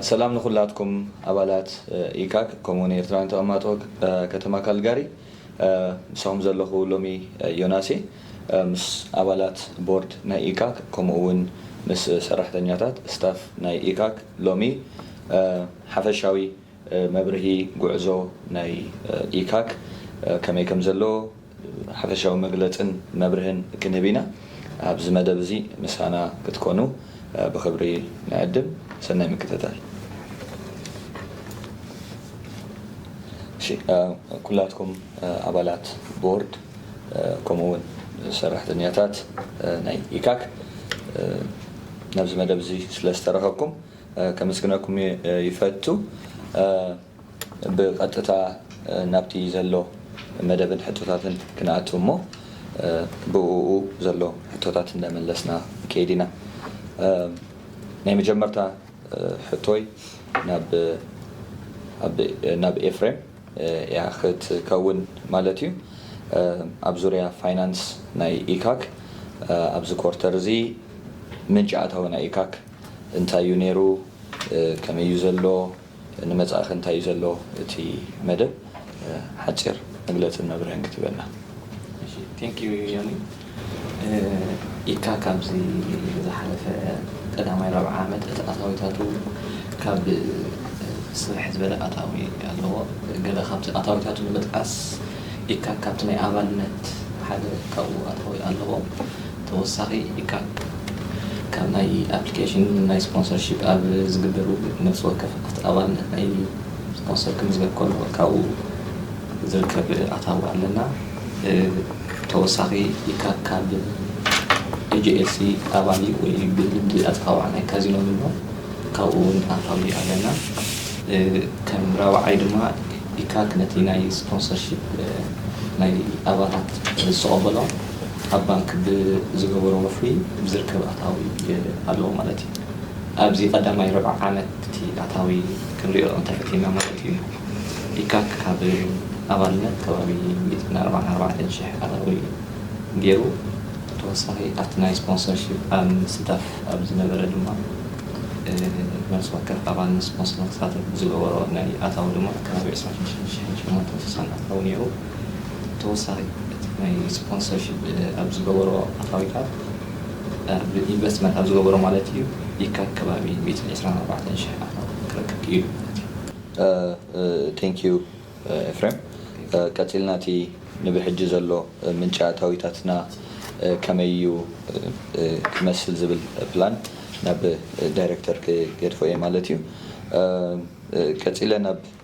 ሰላም ንኹላትኩም ኣባላት ኢካክ ከምኡ ውን ኤርትራውያን ተቐማጦ ከተማ ካልጋሪ ምሳኹም ዘለኹ ሎሚ ዮናስ እየ ምስ ኣባላት ቦርድ ናይ ኢካክ ከምኡ ውን ምስ ሰራሕተኛታት Staff ናይ ኢካክ ሎሚ ሓፈሻዊ መብርሂ ጉዕዞ ናይ ኢካክ ከመይ ከምዘሎ ሓፈሻዊ መግለጽን መብርህን ክንህብ ኢና። ኣብዚ መደብ እዚ ምሳና ክትኮኑ ብኽብሪ ንዕድም። ሰናይ ምክትታል። እሺ ኩላትኩም ኣባላት ቦርድ ከምኡ ውን ሰራሕተኛታት ናይ ኢካክ ናብዚ መደብ እዚ ስለ ዝተረኸብኩም ከመስግነኩም ይፈቱ። ብቐጥታ ናብቲ ዘሎ መደብን ሕቶታትን ክንኣቱ እሞ ብእኡ ዘሎ ሕቶታት እናመለስና ንከይድ ኢና። ናይ መጀመርታ ሕቶይ ናብ ኤፍሬም እያ ክትከውን ማለት እዩ። ኣብ ዙርያ ፋይናንስ ናይ ኢካክ ኣብዚ ኮርተር እዚ ምንጪ ኣታዊ ናይ ኢካክ እንታይ እዩ ነይሩ ከመይ እዩ ዘሎ፣ ንመጻኢኸ እንታይ እዩ ዘሎ እቲ መደብ ሓጺር መግለጽን መብርህን ክትህበና። እሺ Thank you ዮኒ ኢካክ ኣብዚ ዝሓለፈ ቀዳማይ ራብዓይ ዓመት እቲ ኣታዊታቱ ካብ ስርሕ ዝበለ ኣታዊ ኣለዎ ገለ ካብቲ ኣታዊታቱ ንምጥቃስ ኢካክ ካብቲ ናይ ኣባልነት ሓደ ካብኡ ኣታዊ ኣለዎ ተወሳኺ ኢካ ካብ ናይ ኣፕሊኬሽን ናይ ስፖንሰር ሺፕ ኣብ ዝግበር ውግእ ነፍሲ ወከፍ ኣቲ ኣባልነት ናይ ስፖንሰር ክምዝገብ ከሎ ካብኡ ዝርከብ ኣታዊ ኣለና ተወሳኺ ኢካ ካብ AGLC ኣባል እዩ ወይ ብልምዲ ኣተካውዓ ናይ ካዚኖ ንብሎ ካብኡ ውን ኣታዊ ኣለና ከም ራብዓይ ድማ ኢካ ነቲ ናይ ስፖንሰር ሺፕ ናይ ኣባላት ዝተቀበሎ ኣብ ባንክ ብዝገበሮ ወፍሪ ዝርከብ ኣታዊ ኣለዎ ማለት እዩ። ኣብዚ ቀዳማይ ርብዒ ዓመት እቲ ኣታዊ ክንሪኦ እንተፈቲንና ማለት እዩ ኢካክ ካብ ኣባልነት ከባቢ ሚእትን ኣርባዓን ኣርባዕተን ሽሕ ኣታዊ ገይሩ። ብተወሳኺ ኣብቲ ናይ ስፖንሰርሺፕ ኣብ ምስታፍ ኣብ ዝነበረ ድማ ነፍሲ ወከፍ ኣባል ንስፖንሰር ንክሳተፍ ብዝገበሮ ናይ ኣታዊ ድማ ከባቢ ዕስራን ሽዱሽተን ሽሕን ሸሞንተን ስሳን ኣታዊ ነይሩ። ተወሳኺ እቲ ናይ ስፖንሰርሺፕ ኣብ ዝገበሮ ኣታዊታት ኣብ ኢንቨስትመንት ኣብ ዝገበሮ ማለት እዩ ይካብ ከባቢ ሚእትን ዕስራን ኣርባዕተን ሽሕ ኣታዊ ክረክብ ክኢሉ ማለት እዩ። Thank you ኤፍሬም ቀጺልና እቲ ንብሕጂ ዘሎ ምንጪ ኣታዊታትና ከመይ እዩ ክመስል ዝብል ፕላን ናብ ዳይረክተር ክገድፎ እየ ማለት እዩ ቀጺለ ናብ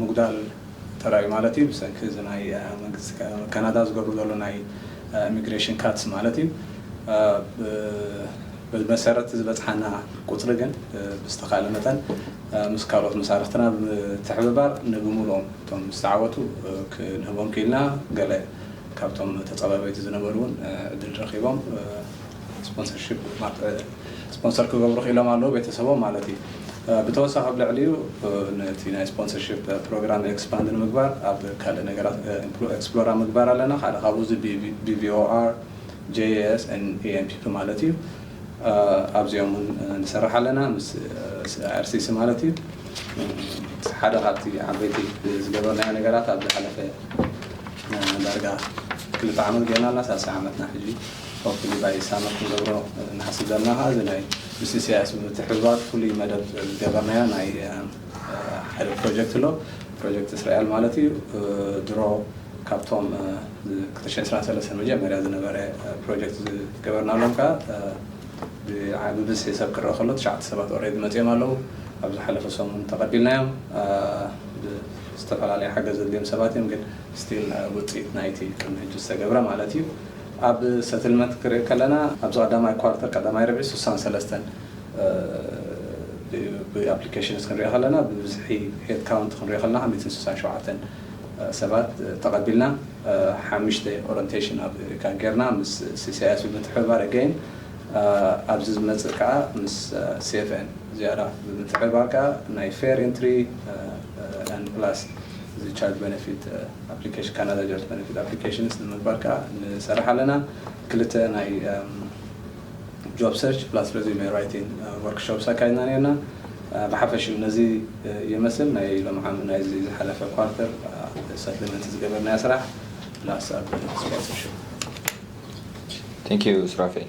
ምጉዳል ተራእዩ ማለት እዩ ብሰንኪ እዚ ናይ መንግስቲ ካናዳ ዝገብሮ ዘሎ ናይ ኢሚግሬሽን ካትስ ማለት እዩ ብመሰረት ዝበጽሓና ቁጽሪ ግን ብዝተኻለ መጠን ምስ ካልኦት መሳርሕትና ብምትሕብባር ንብምሉኦም እቶም ዝተዓወቱ ክንህቦም ክኢልና ገለ ካብቶም ተጸባባይቲ ዝነበሩ እውን ዕድል ረኺቦም ስፖንሰር ክገብሩ ክኢሎም ኣለዉ፣ ቤተሰቦም ማለት እዩ። ብተወሳኺ ኣብ ልዕሊኡ ነቲ ናይ ስፖንሰርሺፕ ፕሮግራም ኤክስፓንድ ንምግባር ኣብ ካልእ ነገራት ኤክስፕሎር ኣብ ምግባር ኣለና። ሓደ ካብኡ እዚ BVOR፣ JAS and EMPP ማለት እዩ። ኣብዚኦም እውን ንሰርሕ ኣለና ምስ IRCC ማለት እዩ። ሓደ ካብቲ ዓበይቲ ዝገበርናዮ ነገራት ኣብ ዝሓለፈ ዳርጋ ክልተ ዓመት ገይርና ኣለና ሳልሳይ ዓመትና ሕጂ እዩ። ወፍሪ ጉባኤ ሳመ ክንገብሮ ንሓስብ ዘለና ከኣ እዚ ናይ ምስ ኢሰያስ ብምትሕብባር ፍሉይ መደብ ዝገበርናዮ ናይ ሓደ ፕሮጀክት ኣሎ ፕሮጀክት እስራኤል ማለት እዩ ድሮ ካብቶም ክልተ ሽሕን ዕስራን ሰለስተን መጀመርያ ዝነበረ ፕሮጀክት ዝገበርናሎም ከኣ ብብዝሒ ሰብ ክረኣ ከሎ ትሽዓተ ሰባት ኦሬዲ መጺኦም ኣለዉ ኣብ ዝሓለፈ ሰሙን ተቐቢልናዮም ዝተፈላለየ ሓገዝ ዘድልዮም ሰባት እዮም ግን ስቲል ውጽኢት ናይቲ ቅድሚ ሕጂ ዝተገብረ ማለት እዩ ኣብ ሰትልመንት ክርኢ ከለና ኣብዚ ቀዳማይ ኳርተር ቀዳማይ ርብዒ ስሳን ሰለስተን ብ ኣፕሊኬሽንስ ክንሪኦ ከለና ብብዝሒ ሄድ ካውንት ክንሪኦ ከለና ከኣ ሚእትን ስሳን ሸውዓተን ሰባት ተቀቢልና ሓምሽተ ኦረንቴሽን ኣብ እሪካ ጌርና ምስ ሲሲኣይኤስ ብምትሕብባር ኣገይን ኣብዚ ዝመጽእ ከኣ ምስ ሲኤፍኤን ዝያዳ ብምትሕብባር ከኣ ናይ ፌር ኢንትሪ ኣንድ ፕላስ እዚ ቻርጅ በነፊት ኣፕሊኬሽን ካናዳ ጃብስ በነፊት ኣፕሊኬሽንስ ንምግባር ከኣ ንሰርሕ ኣለና። ክልተ ናይ ጆብ ሰርች ፕላስ ረዚዩመ ራይቲን ወርክ ሾፕስ ኣካይድና ኔርና። ብሓፈሽኡ ነዚ የመስል ናይ ሎም ዓም ናይዚ ዝሓለፈ ኳርተር ሰፕሊመንት ዝገበርናዮ ስራሕ ፕላስ ኣብ ስፖንሰርሽፕ። Thank you ሱራፌል።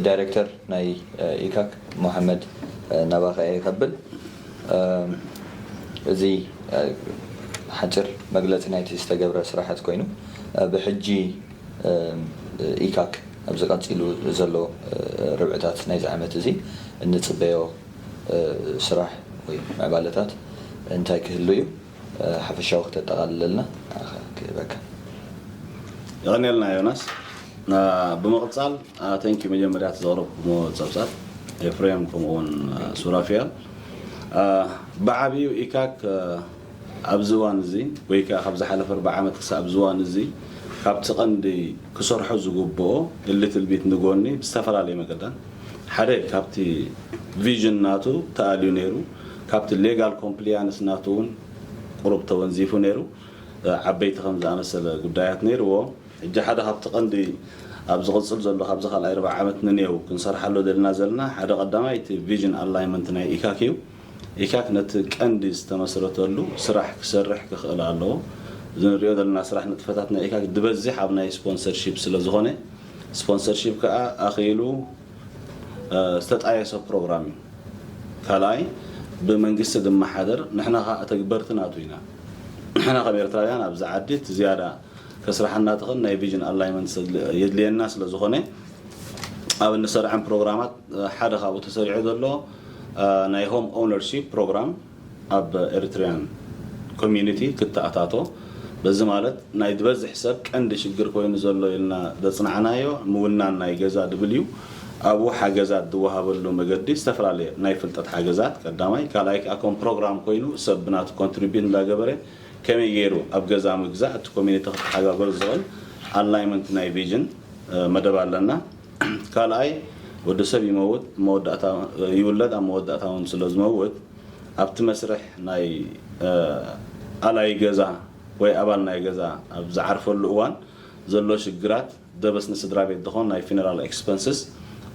ዳይረክተር ናይ ኢካክ ሞሃመድ ናባኻ እየ ከብል። እዚ ሓጺር መግለጺ ናይቲ ዝተገብረ ስራሓት ኮይኑ ብሕጂ ኢካክ ኣብዚ ቀጺሉ ዘሎ ርብዕታት ናይዚ ዓመት እዚ እንጽበዮ ስራሕ ወይ ምዕባለታት እንታይ ክህሉ እዩ? ሓፈሻዊ ክተጠቓልለልና ክህበካ። የቐንየልና ዮናስ። ብምቕጻል Thank you መጀመርያ እቲ ዘቕረብኩምዎ ጸብጻብ ኤፍሬም ከምኡ ውን ሱራፊያል ብዓቢኡ ኢካክ ኣብዚ እዋን እዚ ወይ ከኣ ካብ ዝሓለፈ ኣርብዓ ዓመት ክሳብ ኣብዚ እዋን እዚ ካብቲ ቀንዲ ክሰርሖ ዝግብኦ እሊ ትልቢት ንጎኒ ብዝተፈላለየ መገዳት ሓደ ካብቲ ቪዥን ናቱ ተኣልዩ ነይሩ ካብቲ ሌጋል ኮምፕሊያንስ ናቱ እውን ቁሩብ ተወንዚፉ ነይሩ። ዓበይቲ ከም ዝኣመሰለ ጉዳያት ነይርዎ። ሕጂ ሓደ ካብቲ ቀንዲ ኣብ ዝቕጽል ዘሎ ካብዚ ካልኣይ ርብዒ ዓመት ንኔው ክንሰርሓሎ ደሊና ዘለና ሓደ ቀዳማይ እቲ ቪዥን ኣላይመንት ናይ ኢካክ እዩ። ኢካክ ነቲ ቀንዲ ዝተመስረተሉ ስራሕ ክሰርሕ ክኽእል ኣለዎ። እዚ ንሪኦ ዘለና ስራሕ ንጥፈታት ናይ ኢካክ ድበዚሕ ኣብ ናይ ስፖንሰርሺፕ ስለ ዝኾነ ስፖንሰርሺፕ ከኣ ኣኺሉ ዝተጣየሰ ፕሮግራም እዩ። ካልኣይ ብመንግስቲ ዝመሓደር ንሕና ከኣ ተግበርቲ ናቱ ኢና። ንሕና ከም ኤርትራውያን ኣብዚ ዓዲ እቲ ዝያዳ ከስርሓና ትኽእል ናይ ቪዥን ኣላይመንት የድልየና ስለ ዝኾነ ኣብ እንሰርዐም ፕሮግራማት ሓደ ካብኡ ተሰሪዑ ዘሎ ናይ ሆም ኦውነርሺፕ ፕሮግራም ኣብ Eritrean Community ክተኣታቶ በዚ ማለት ናይ ድበዝሕ ሰብ ቀንዲ ሽግር ኮይኑ ዘሎ ኢልና ደጽናዕናዮ ምውናን ናይ ገዛ ድብልዩ ኣብኡ ሓገዛት ድወሃበሉ መገዲ ዝተፈላለየ ናይ ፍልጠት ሓገዛት ቀዳማይ ካልኣይ ከኣ ኮም ፕሮግራም ኮይኑ ሰብ ብናቱ ኮንትሪቢዩት እንዳገበረ ከመይ ገይሩ ኣብ ገዛ ምግዛእ እቲ ኮሚኒቲ ክተሓጋገዝ ዝኽእል ኣላይመንት ናይ ቪዥን መደብ ኣለና። ካልኣይ ወዲ ሰብ ይመውት ኣብ መወዳእታ ይውለድ ኣብ መወዳእታ ውን ስለ ዝመውት ኣብቲ መስርሕ ናይ ኣላዪ ገዛ ወይ ኣባል ናይ ገዛ ኣብ ዝዓርፈሉ እዋን ዘሎ ሽግራት ደበስ ንስድራ ቤት ድኾን ናይ ፊነራል ኤክስፐንስስ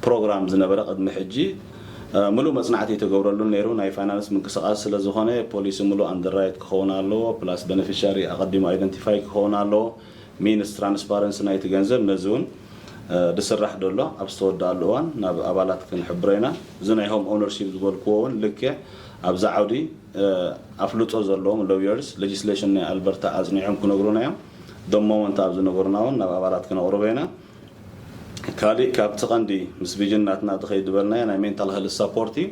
ፕሮግራም ዝነበረ ቅድሚ ሕጂ ምሉእ መጽናዕቲ ኣይተገብረሉን ነይሩ ናይ ፋይናንስ ምንቅስቃስ ስለ ዝኾነ ፖሊሲ ምሉእ ኣንደርራይት ክኸውን ኣለዎ ፕላስ በነፊሻሪ ኣቀዲሙ ኣይደንቲፋይ ክኸውን ኣለዎ ሚንስ ትራንስፓረንሲ ናይቲ ገንዘብ ነዚ ውን ድስራሕ ደሎ ኣብ ዝተወደኣሉ እዋን ናብ ኣባላት ክንሕብሮ ኢና። እዚ ናይ ሆም ኦውነርሺፕ ዝበልክዎ እውን ልክዕ ኣብዚ ዓውዲ ኣፍልጦ ዘለዎም ሎውየርስ ሌጅስሌሽን ናይ ኣልበርታ ኣፅኒዖም ክነግሩና እዮም። the moment ኣብ ዝነገሩና እውን ናብ ኣባላት ክነቕርቦ ኢና። ካሊእ ካብቲ ቀንዲ ምስ ቪዥን ናትና ድኸይድ ዝበልናዮ ናይ ሜንታል ሀልዝ ሳፖርት እዩ።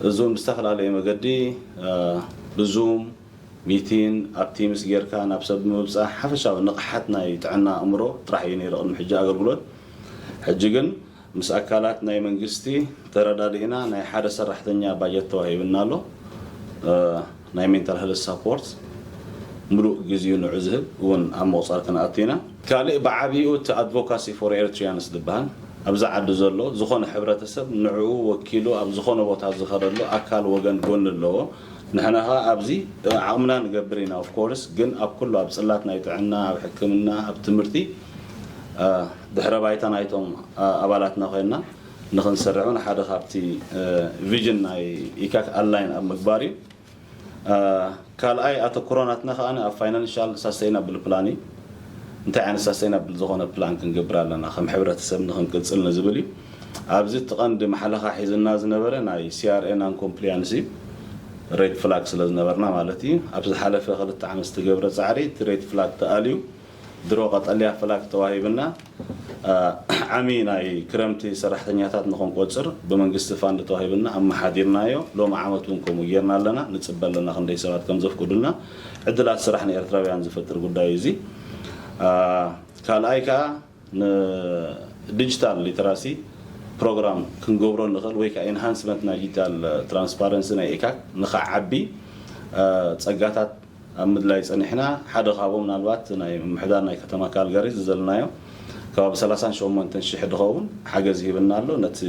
እዚ እውን ብዝተፈላለየ መገዲ ብዙም፣ ሚቲን ኣብ ቲምስ ጌርካ ናብ ሰብ ብምብጻሕ ሓፈሻዊ ንቕሓት ናይ ጥዕና ኣእምሮ ጥራሕ እዩ ነይሩ ቅድሚ ሕጂ ኣገልግሎት። ሕጂ ግን ምስ ኣካላት ናይ መንግስቲ ተረዳዲእና ናይ ሓደ ሰራሕተኛ ባጀት ተዋሂብና ኣሎ ናይ ሜንታል ሀልዝ ሳፖርት ምሉእ ግዚኡ ንዑ ዝህብ እውን ኣብ ምቑጻር ክንኣቱ ኢና። ካልእ ብዓቢኡ እቲ ኣድቮካሲ ፎር ኤሪትሪያንስ ዝብሃል ኣብዚ ዓዲ ዘሎ ዝኾነ ሕብረተሰብ ንዕኡ ወኪሉ ኣብ ዝኾነ ቦታ ዝኸደሉ ኣካል ወገን ጎኒ ኣለዎ ንሕና ከኣ ኣብዚ ዓቕምና ንገብር ኢና of course ግን ኣብ ኩሉ ኣብ ጽላት ናይ ጥዕና ኣብ ሕክምና ኣብ ትምህርቲ ድሕረ ባይታ ናይቶም ኣባላትና ኮይና ንኽንሰርዕ ውን ሓደ ካብቲ ቪዥን ናይ ኢካክ ኣላይን ኣብ ምግባር እዩ ካልኣይ ኣተኩሮ ናትና ከኣ ኣብ ፋይናንሻል ሳስተይናብል ፕላን እዩ እንታይ ዓይነት ሳስተይናብል ዝኾነ ፕላን ክንገብር ኣለና ከም ሕብረተሰብ ንኽንቅጽል ንዝብል እዩ ኣብዚ እቲ ቀንዲ ማሕለኻ ሒዝና ዝነበረ ናይ CRA non compliance እዩ። ሬድ ፍላግ ስለ ዝነበርና ማለት እዩ። ኣብ ዝሓለፈ ክልተ ዓመት ዝተገብረ ጻዕሪ እቲ ሬድ ፍላግ ተኣልዩ ድሮ ቀጠልያ ፍላግ ተዋሂብና ዓሚ ናይ ክረምቲ ሰራሕተኛታት ንክንቆጽር ብመንግስቲ ፋንድ ተዋሂብና ኣመሓዲርናዮ። ሎሚ ዓመት እውን ከምኡ ጌርና ኣለና። ንጽበ ኣለና ክንደይ ሰባት ከም ዘፍቅዱልና። ዕድላት ስራሕ ንኤርትራውያን ዝፈጥር ጉዳይ እዩ እዚ። ካልኣይ ከኣ። ንዲጂታል ሊተራሲ ፕሮግራም ክንገብሮ ንኽእል ወይ ከዓ ኢንሃንስመንት ናይ ዲጂታል ትራንስፓረንሲ ናይ ኤካክ ንኸዓቢ ፀጋታት ኣብ ምድላይ ፀኒሕና። ሓደ ካብኡ ምናልባት ናይ ምምሕዳር ናይ ከተማ ካልጋሪ ዝዘልናዮ ከባቢ ሰላሳን ሸሞንተን ሽሕ ድኸውን ሓገዝ ሂብና ኣሎ ነቲ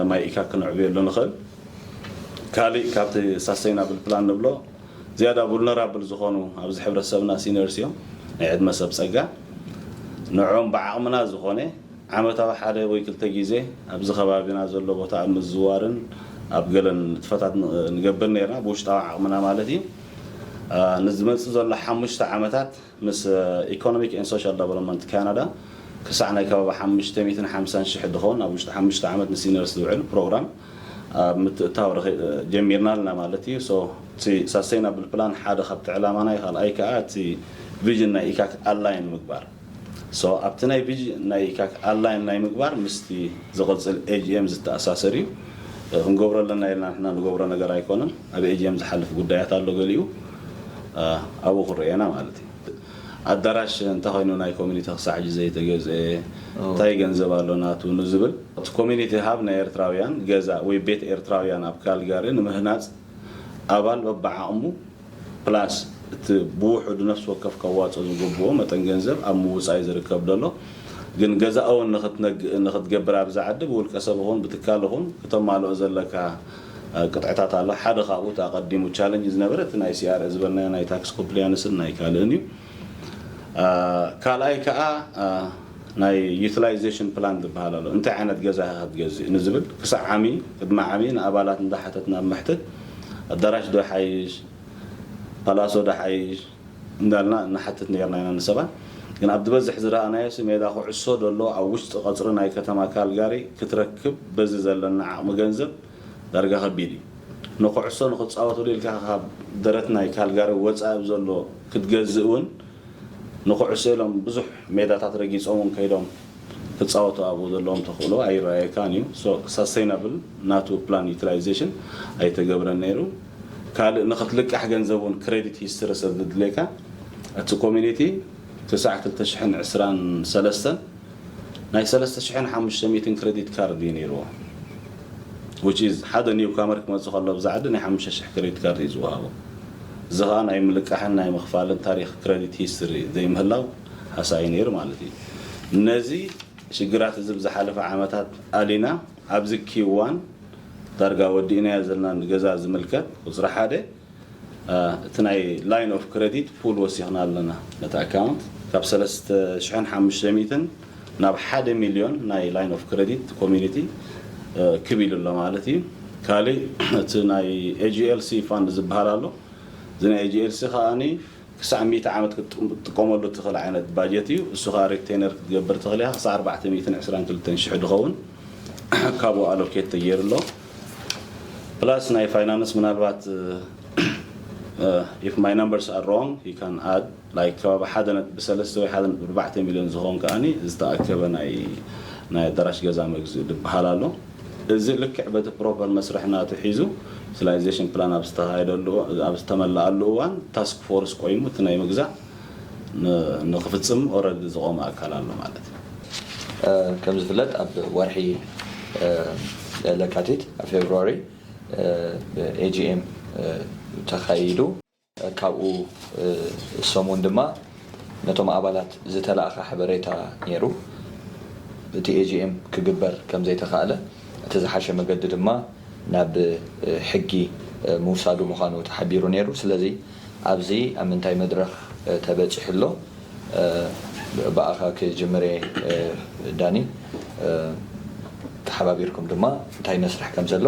ማይ ኢካክ ክነዕብየሉ ንኽእል። ካሊእ ካብቲ ሳስተይናብል ፕላን ንብሎ ዝያዳ ቡልነራብል ዝኾኑ ኣብዚ ሕብረተሰብና ሲንየርስ እዮም ናይ ዕድመ ሰብ ጸጋ ንዕኦም ብዓቕምና ዝኾነ ዓመታዊ ሓደ ወይ ክልተ ግዜ ኣብዚ ከባቢና ዘሎ ቦታ ኣብ ምዝዋርን ኣብ ገለ ንጥፈታት ንገብር ኔርና ብውሽጣዊ ዓቕምና ማለት እዩ ንዝመጽእ ዘሎ ሓሙሽተ ዓመታት ምስ ኢኮኖሚክ ኤንድ ሶሻል ደቨሎፕመንት ካናዳ ክሳዕ ናይ ከባቢ ሓሙሽተ ሚእትን ሓምሳን ሽሕ ድኾን ኣብ ውሽጢ ሓሙሽተ ዓመት ንሲነርስ ዝውዕል ፕሮግራም ኣብ ምትእታው ረኺ ጀሚርና ኣለና ማለት እዩ so እቲ ሳስተይናብል ፕላን ሓደ ካብቲ ዕላማና እዩ ካልኣይ ከኣ እቲ ቪዥን ናይ ኢካክ ኣላይን ምግባር so ኣብቲ ናይ ቪዥን ናይ ኢካክ ኣላይን ናይ ምግባር ምስቲ ዝቕጽል ኤጂኤም ዝተኣሳሰር እዩ ክንገብሮ ኣለና ኢልና ንሕና ንገብሮ ነገር ኣይኮነን ኣብ ኤጂኤም ዝሓልፍ ጉዳያት ኣሎ ገሊኡ ኣብኡ ክረኤና ማለት እዩ ኣዳራሽ እንተኸይኑ ናይ ኮሚኒቲ ክሳዕ ሕጂ ዘይተገዝኤ እንታይ ገንዘብ ኣሎ ናቱ ንዝብል እቲ ኮሚኒቲ ሃብ ናይ ኤርትራውያን ገዛ ወይ ቤት ኤርትራውያን ኣብ ካልጋሪ ንምህናጽ ኣባል በብዓቕሙ ፕላስ እቲ ብውሑዱ ነፍሲ ወከፍ ከዋጽኦ ዝግብኦ መጠን ገንዘብ ኣብ ምውጻይ ዝርከብ ደሎ ግን ገዛ'ውን ንኽትገብር ኣብዚ ዓዲ ብውልቀ ሰብ ይኹን ብትካል ይኹን ክተማልኦ ዘለካ ቅጥዕታት ኣሎ። ሓደ ካብኡ እቲ ኣቐዲሙ ቻለንጅ ዝነበረ እቲ ናይ CRA ዝበልናዮ ናይ ታክስ ኮምፕሊያንስን ናይ ካልእን እዩ። ካልኣይ ከኣ ናይ ዩቲላይዜሽን ፕላን ዝበሃል ኣሎ። እንታይ ዓይነት ገዛ ኢኻ ክትገዝእ ንዝብል ክሳዕ ዓሚ ቅድሚ ዓሚ ንኣባላት እንዳሓተትና ኣብ መሕትት ኣዳራሽ ዶ ይሓይሽ ፓላሶ ዶ ይሓይሽ፣ እንዳልና ንሓትት ኔርና ኢና ንሰባት ግን ኣብ ዝበዝሕ ዝረኣናዮሲ ሜዳ ኩዕሶ ደሎ ኣብ ውሽጢ ቀጽሪ ናይ ከተማ ካልጋሪ ክትረክብ በዚ ዘለና ዓቅሚ ገንዘብ ዳርጋ ከቢድ እዩ ንኩዕሶ ንክጻወትሉ ኢልካ ካብ ደረት ናይ ካልጋሪ ወጻኢ ብዘሎ ክትገዝእ ውን ንኩዕሶ ኢሎም ብዙሕ ሜዳታት ረጊጾም ውን ከይዶም ክጻወቱ ኣብኡ ዘለዎም ተክእሎ ኣይረኣየካን እዩ so sustainable ናቱ plan utilization ኣይተገብረን ኔሩ ካልእ ንክትልቃሕ ገንዘብ ውን ክረዲት ሂስትሪ ሰለድልየካ እቲ ኮሚኒቲ ክሳዕ ክልተ ሽሕን ዕስራን ሰለስተን ናይ ሰለስተ ሽሕን ሓሙሽተ ሚእትን ክረዲት ካርድ እዩ ነይርዎ which is ሓደ ኒው ካመር ክመጽእ ከሎ ኣብዚ ዓዲ ናይ ሓሙሽተ ሽሕ ክረዲት ካርድ እዩ ዝወሃቦ እዚ ከኣ ናይ ምልቃሕን ናይ ምኽፋልን ታሪኽ ክረዲት ሂስትሪ ዘይምህላው ሃሳዩ ነይሩ ማለት እዩ ነዚ ሽግራት እዚ ብዝሓለፈ ዓመታት ኣሊና ኣብዚ ኪዋን ዳርጋ ወዲእናዮ ዘልና ንገዛ ዝምልከት ቁጽሪ ሓደ እቲ ናይ ላይን ኦፍ ክረዲት ፑል ወሲኽና ኣለና ነቲ ኣካውንት ካብ ሰለስተ ሽሕን ሓሙሽተ ሚእትን ናብ ሓደ ሚልዮን ናይ ላይን ኦፍ ክረዲት ኮሚኒቲ ክብ ኢሉ ኣሎ ማለት እዩ ካልእ እቲ ናይ ኤጂኤልሲ ፋንድ ዝበሃል ኣሎ እዚ ናይ ኤጂኤልሲ ከኣ ክሳዕ ሚእቲ ዓመት ክትጥቀመሉ እትኽእል ዓይነት ባጀት እዩ። እሱ ከኣ ሪቴነር ክትገብር ትኽእል ኢኻ ክሳዕ ኣርባዕተ ሚእትን ዕስራን ክልተን ሽሕ ድኸውን ካብኡ ኣሎኬት ተገይሩ ኣሎ። ፕላስ ናይ ፋይናንስ ምናልባት ኢፍ ማይ ነምበርስ ኣር ሮንግ ዩ ካን ኣድ ላይክ ከባቢ ሓደ ነጥቢ ሰለስተ ወይ ሓደ ነጥቢ ኣርባዕተ ሚልዮን ዝኸውን ከኣ ዝተኣከበ ናይ ናይ ኣዳራሽ ገዛ መግዝኢ ድበሃል ኣሎ። እዚ ልክዕ በቲ ፕሮፐር መስርሕ ናቱ ሒዙ ስላይዜሽን ፕላን ኣብ ዝተኻየደሉ ኣብ ዝተመለኣሉ እዋን ታስክ ፎርስ ቆይሙ እቲ ናይ ምግዛእ ንክፍፅም ኦረዲ ዝቆመ ኣካል ኣሎ ማለት እዩ። ከም ዝፍለጥ ኣብ ወርሒ ለካቲት፣ February፣ AGM ተኻይዱ። ካብኡ ሰሙን ድማ ነቶም ኣባላት ዝተላእከ ሓበሬታ ነይሩ። እቲ AGM ክግበር ከምዘይተኻእለ እቲ ዝሓሸ መገዲ ድማ ናብ ሕጊ ምውሳዱ ምዃኑ ተሓቢሩ ነይሩ። ስለዚ ኣብዚ ኣብ ምንታይ መድረኽ ተበጺሑ ኣሎ ብኣኻ ክጅምር'የ ዳኒ። ተሓባቢርኩም ድማ እንታይ መስርሕ ከምዘሎ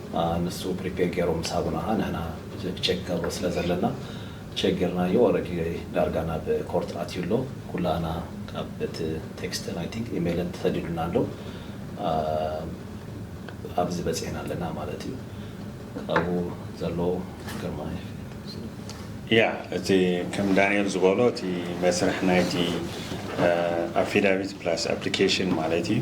ንሱ ፕሪፔር ጌሩ ምስ ሃቡና ንሕና ቼክ ንገብሮ ስለ ዘለና ቼክ ጌርናዮ ኦረዲ ዳርጋ ናብ ኮርት ኣትዩ ኣሎ ኩላህና ካብ እቲ ቴክስትን ኣይ ቲንክ ኢሜልን ተሰዲዱልና ኣሎ ኣብዚ በጺሕና ኣለና ማለት እዩ ካብኡ ዘሎ ግርማይ ያ እቲ ከም ዳንኤል ዝበሎ እቲ መስርሕ ናይቲ ኣፊዳቪት ፕላስ ኣፕሊኬሽን ማለት እዩ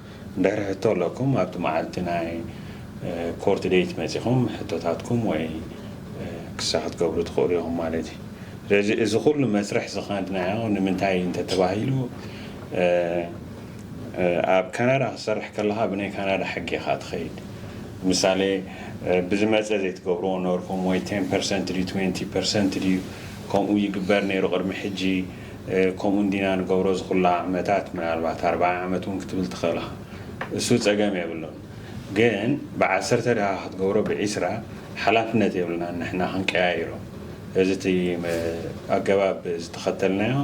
እንድሕር ሕቶ ኣለኩም ኣብቲ መዓልቲ ናይ ኮርት ዴይት መጺኹም ሕቶታትኩም ወይ ክሳ ክትገብሩ ትኽእሉ ኢኹም ማለት እዩ። ስለዚ እዚ ኩሉ መስርሕ ዝኸድናዮ ንምንታይ እዩ እንተተባሂሉ ኣብ ካናዳ ክትሰርሕ ከለኻ ብናይ ካናዳ ሕጊ ኢኻ ትኸይድ። ምሳሌ ብዝመጸ ዘይትገብርዎ ነበርኩም ወይ ቴን ፐርሰንት ድዩ ትዌንቲ ፐርሰንት ድዩ ከምኡ ይግበር ነይሩ ቅድሚ ሕጂ ከምኡ እንዲና ንገብሮ እዚ ኩሉ ዓመታት ምናልባት ኣርባዓ ዓመት ውን ክትብል ትኽእል እኻ እሱ ጸገም የብሉን ግን ብዓሰርተ ድኻ ክትገብሮ ብዒስራ ሓላፍነት የብልናን ንሕና ክንቀያይሮ እዚ እቲ ኣገባብ ዝተኸተልናዮ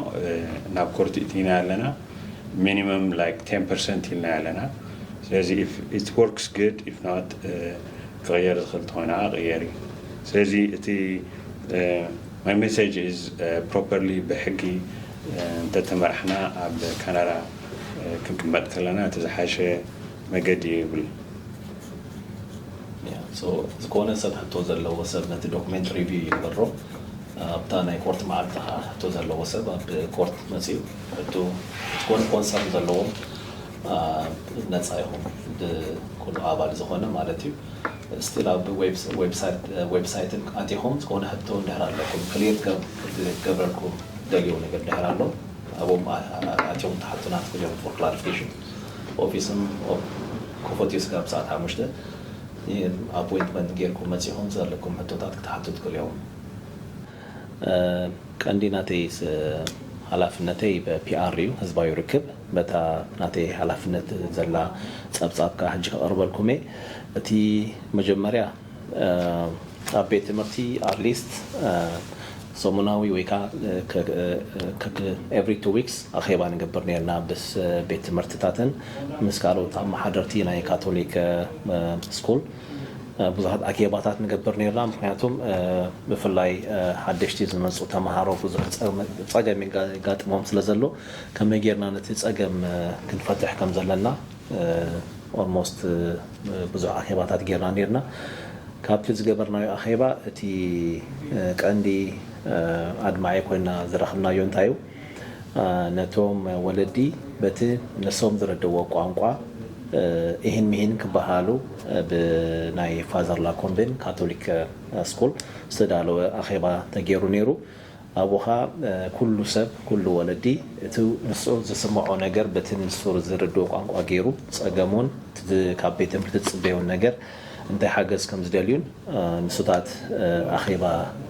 ናብ ኮርት እቲና ኣለና ሚኒመም ላይክ ቴን ፐርሰንት ኢልናዮ ኣለና ስለዚ ኢፍ ኢት ወርክስ ግድ ኢፍ ኖት ክቕየር ዝኽእል ተኾይና ክቕየር እዩ ስለዚ እቲ My message is properly ብሕጊ እንተተመራሕና ኣብ ካናዳ ክንቅመጥ ከለና እቲ ዝሓሸ መገዲ እዩ ይብል። Yeah so ዝኮነ ሰብ ሕቶ ዘለዎ ሰብ ነቲ ዶኩሜንት ሪቪው ይግበሮ ኣብታ ናይ ኮርት መዓልቲ ከኣ ሕቶ ዘለዎ ሰብ ኣብ ኮርት መጺኡ ሕቶ ዝኮነ ኮንሰርን ዘለዎም ነጻ ኢኩም ብኩሉ ኣባል ዝኮነ ማለት እዩ። ስቲል ኣብ ዌብሳይትን ኣቲኹም ዝኾነ ሕቶ እንድሕር ኣለኩም ክሊር ክገብረልኩም ትደልይዎ ነገር እንድሕር ኣሎ ኣብኦም ኣቲኹም ትሓቱና ትኽእሉ ኢኹም ፎር ክላሪፊኬሽን ኦፊስም ክፉት እዩ ስጋብ ሰዓት ሓሙሽተ ኣፖይንትመንት ጌርኩም መጺኹም ዘለኩም ሕቶታት ክትሓቱ ትኽእሉ ኢኹም። ቀንዲ ናተይ ሃላፍነተይ ፒኣር እዩ ህዝባዊ ርክብ በታ ናተይ ሃላፍነት ዘላ ጸብጻብ ከኣ ሕጂ ከቕርበልኩም እየ። እቲ መጀመርያ ኣብ ቤት ትምህርቲ ኣትሊስት ሰሙናዊ ወይ ከኣ ኤቭሪ ቱ ዊክስ ኣኼባ ንገብር ኔርና ምስ ቤት ትምህርትታትን ምስ ካልኦት ኣመሓደርቲ ናይ ካቶሊክ ስኩል ብዙሓት ኣኬባታት ንገብር ኔርና ምኽንያቱ ብፍላይ ሓደሽቲ ዝመጹ ተማሃሮ ብዙሕ ጸገም የጋጥሞም ስለ ዘሎ ከመይ ጌርና ነቲ ጸገም ክንፈትሕ ከም ዘለና ኦልሞስት ብዙሕ ኣኼባታት ጌርና ኔርና። ካብቲ ዝገበርናዮ ኣኼባ እቲ ቀንዲ ኣድማዒ ኮይና ዝረኽብናዮ እንታይ እዩ? ነቶም ወለዲ በቲ ንሶም ዝርድእዎ ቋንቋ ኢሂን ሚሂን ክበሃሃሉ ብናይ ፋዘር ላኮምቤን ካቶሊክ ስኩል ዝተዳለወ ኣኼባ ተጌሩ ኔሩ። ኣቡኻ ኩሉ ሰብ ኩሉ ወለዲ እቲ ንሱ ዝስምዖ ነገር በቲ ንሱር ዝርድኦ ቋንቋ ገይሩ ጸገሙን እቲ ካብ ቤት ትምህርቲ ዝጽበዮን ነገር እንታይ ሓገዝ ከም ዝደልዩን ንሱታት ኣኼባ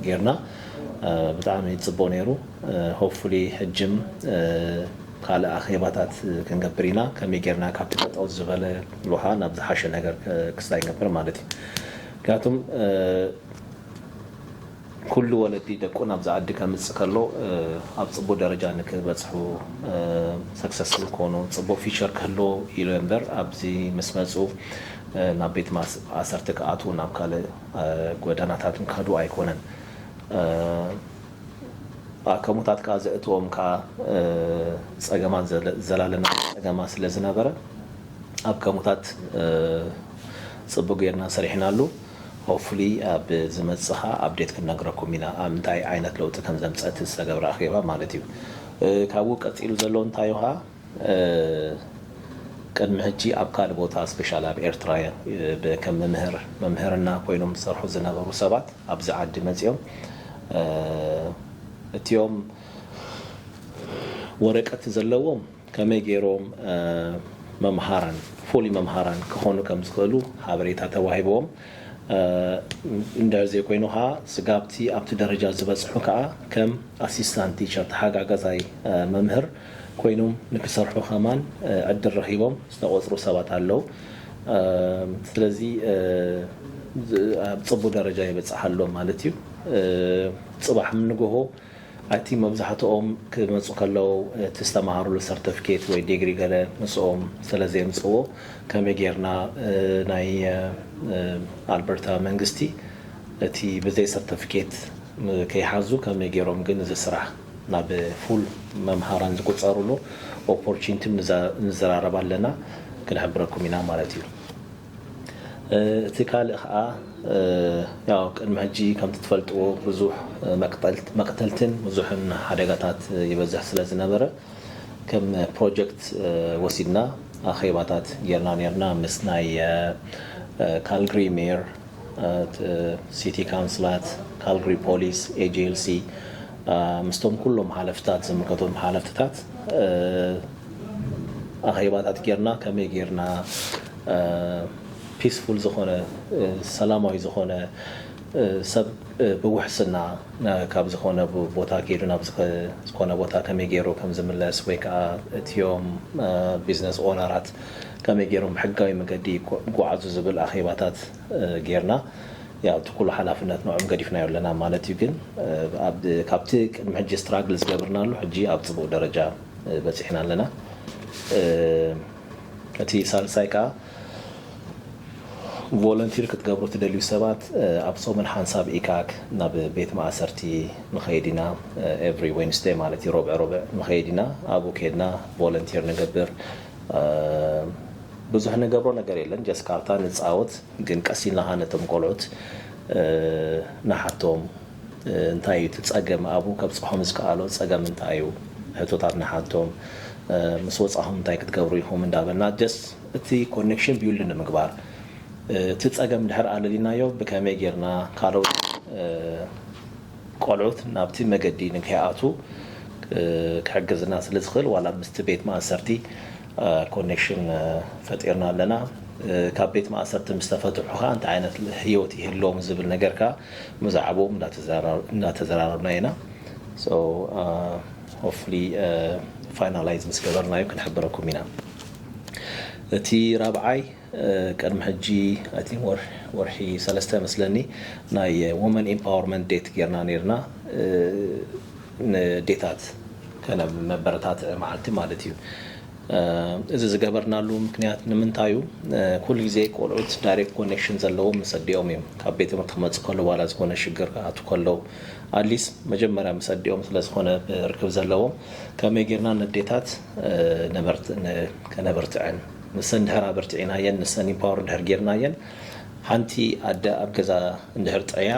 ገይርና ብጣዕሚ ጽቡቕ ነይሩ hopefully ሕጅም ካልእ ኣኼባታት ክንገብር ኢና ከመይ ገይርና ካብቲ ጠጠው ዝበለ ሉሃ ናብ ዝሓሸ ነገር ክስታይ ንገብር ማለት እዩ ምክንያቱም ኩሉ ወለዲ ደቁ ናብዛ ዓዲ ከምጽእ ከሎ ኣብ ጽቡቅ ደረጃ ንክበጽሑ ሰክሰስፉል ክኮኑ ጽቡቅ ፊቸር ክህልዎ ኢሉ እምበር ኣብዚ ምስ መጹ ናብ ቤት ማእሰርቲ ክኣትዉን ናብ ካልእ ጎዳናታትን ክከዱ ኣይኮነን ኣከሙታት ከኣ ዘእትዎም ከኣ ጸገማት ዘላለናዊ ጸገማት ስለ ዝነበረ ኣከሙታት ጽቡቅ ጌርና ሰሪሕናሉ። Hopefully ኣብ ዝመጽእ ከኣ update ክንነግረኩም ኢና ኣብ እንታይ ዓይነት ለውጢ ከም ዘምጸት እቲ ዝተገብረ ኣኼባ ማለት እዩ ካብኡ ቀጺሉ ዘሎ እንታይ ዮሃ ቅድሚ ሕጂ ኣብ ካልእ ቦታ ስፔሻል ኣብ ኤርትራ ከም መምህር መምህርና ኮይኖም ዝሰርሑ ዝነበሩ ሰባት ኣብዚ ዓዲ መጺኦም እቲኦም ወረቀት ዘለዎም ከመይ ገይሮም መምሃራን፣ fully መምሃራን ክኾኑ ከም ዝኽእሉ ሓበሬታ ተዋሂብዎም እንድሕር ዘይኮይኑ ከኣ ስጋብቲ ኣብቲ ደረጃ ዝበጽሑ ከኣ ከም ኣሲስታንት ቲቸር፣ ተሓጋጋዛይ መምህር፣ ኮይኖም ንክሰርሑ ከማን ዕድል ረኺቦም ዝተቖጽሩ ሰባት ኣለዉ። ስለዚ ኣብ ጽቡ ደረጃ ይበጽሕ ኣሎ ማለት እዩ። ጽባሕ ንግሆ፣ ኣቲ መብዛሕትኦም ክመጹ ከለው እቲ ዝተማሃሩሉ ሰርተፍኬት ወይ ዴግሪ ገለ ምስኦም ሰለ ዘየምጽእዎ ከመይ ጌርና ናይ ኣልበርታ መንግስቲ እቲ ብዘይ ሰርተፍኬት ከይሓዙ ከመይ ጌሮም ግን እዚ ስራሕ ናብ ፉል መምሃራን ዝቁጸሩሉ ኦፖርቺንትም ንዘራረብ ኣለና ክንሕብረኩም ኢና ማለት እዩ። እቲ ካልእ ከኣ ያው ቅድሚ ሕጂ ከምቲ ትፈልጥዎ ብዙሕ መቅተልትን ብዙሕን ሓደጋታት ይበዝሕ ስለ ዝነበረ ከም ፕሮጀክት ወሲድና ኣኼባታት ጌርና ኔርና ምስ ናይ ካልግሪ ሜር ሲቲ ካውንስላት ካልግሪ ፖሊስ AJLC ምስቶም ኩሎም ሓለፍትታት ዝምልከቶም ሓለፍትታት ኣኼባታት ጌርና ከመይ ጌርና ፒስፉል ዝኾነ ሰላማዊ ዝኾነ ሰብ ብውሕስና ካብ ዝኾነ ቦታ ከይዱ ናብ ዝኾነ ቦታ ከመይ ገይሩ ከም ዝምለስ ወይ ከዓ እትዮም ቢዝነስ ኦነራት ከመይ ገይሮም ብሕጋዊ መገዲ ይጓዓዙ ዝብል ኣኼባታት ጌርና ያው እቲ ኩሉ ሓላፍነት ንዕኦም ገዲፍናዮ ኣለና ማለት እዩ ግን ካብቲ ቅድሚ ሕጂ ስትራግል ዝገብርናሉ ሕጂ ኣብ ፅቡቅ ደረጃ በጺሕና ኣለና። እቲ ሳልሳይ ከኣ ቮለንቲር ክትገብሩ ትደልዩ ሰባት ኣብ ጾምን ሓንሳብ ኢካክ ናብ ቤት ማእሰርቲ ንኸይድ ኢና ኤቭሪ ዌንስደይ ማለት እዩ ሮብዕ ሮብዕ ንኸይድ ኢና ኣብኡ ከድና ቮለንቲር ንገብር ብዙሕ ንገብሮ ነገር የለን ጀስ ካርታ ንጻወት ግን ቀስ ኢልና ከኣ ነቶም ቆልዑት ንሓቶም እንታይ እዩ እቲ ፀገም ኣብኡ ከብፅሖም ዝከኣሎ ፀገም እንታይ እዩ ሕቶታት ንሓቶም ምስ ወፃኹም እንታይ ክትገብሩ ኢኹም እንዳበልና just እቲ ኮኔክሽን ቢውልድ ንምግባር እቲ ፀገም እንድሕር ኣለሊናዮ ብከመይ ጌርና ካልኦት ቆልዑት ናብቲ መገዲ ንከይኣትዉ ክሕግዝና ስለ ዝኽእል ዋላ ምስቲ ቤት ማእሰርቲ ኮኔክሽን ፈጢርና ኣለና። ካብ ቤት ማእሰርቲ ምስ ተፈትሑ ከኣ እንታይ ዓይነት ህይወት ይህልዎም ዝብል ነገር ከኣ ብዛዕብኦም እናተዘራረብና ኢና። So Hopefully Finalize ምስ ገበርናዮ ክንሕብረኩም ኢና። እቲ ራብዓይ። ቅድሚ ሕጂ ኣይ ቲንክ ወርሒ ሰለስተ መስለኒ ናይ ወመን ኢምፓወርመንት ዴት ጌርና ኔርና ንዴታት ከነብ መበረታትዒ መዓልቲ ማለት እዩ እዚ ዝገበርናሉ ምክንያት ንምንታዩ ኩሉ ግዜ ቆልዑት ዳይሬክት ኮኔክሽን ዘለዎም ምስ ኣዲኦም እዮም ካብ ቤት ትምህርቲ ክመጽእ ከለው ዋላ ዝኾነ ሽግር ክኣቱ ከለው ኣትሊስት መጀመርያ ምስ ኣዲኦም ስለ ዝኾነ ርክብ ዘለዎም ከመይ ጌርና ንዴታት ከነብርትዐን ንሰን ድሕር ኣበርቲዕናየን ንሰን ኢምፓወር ድሕር ጌርናየን ሓንቲ ኣደ ኣብ ገዛ እንድሕር ጥዕያ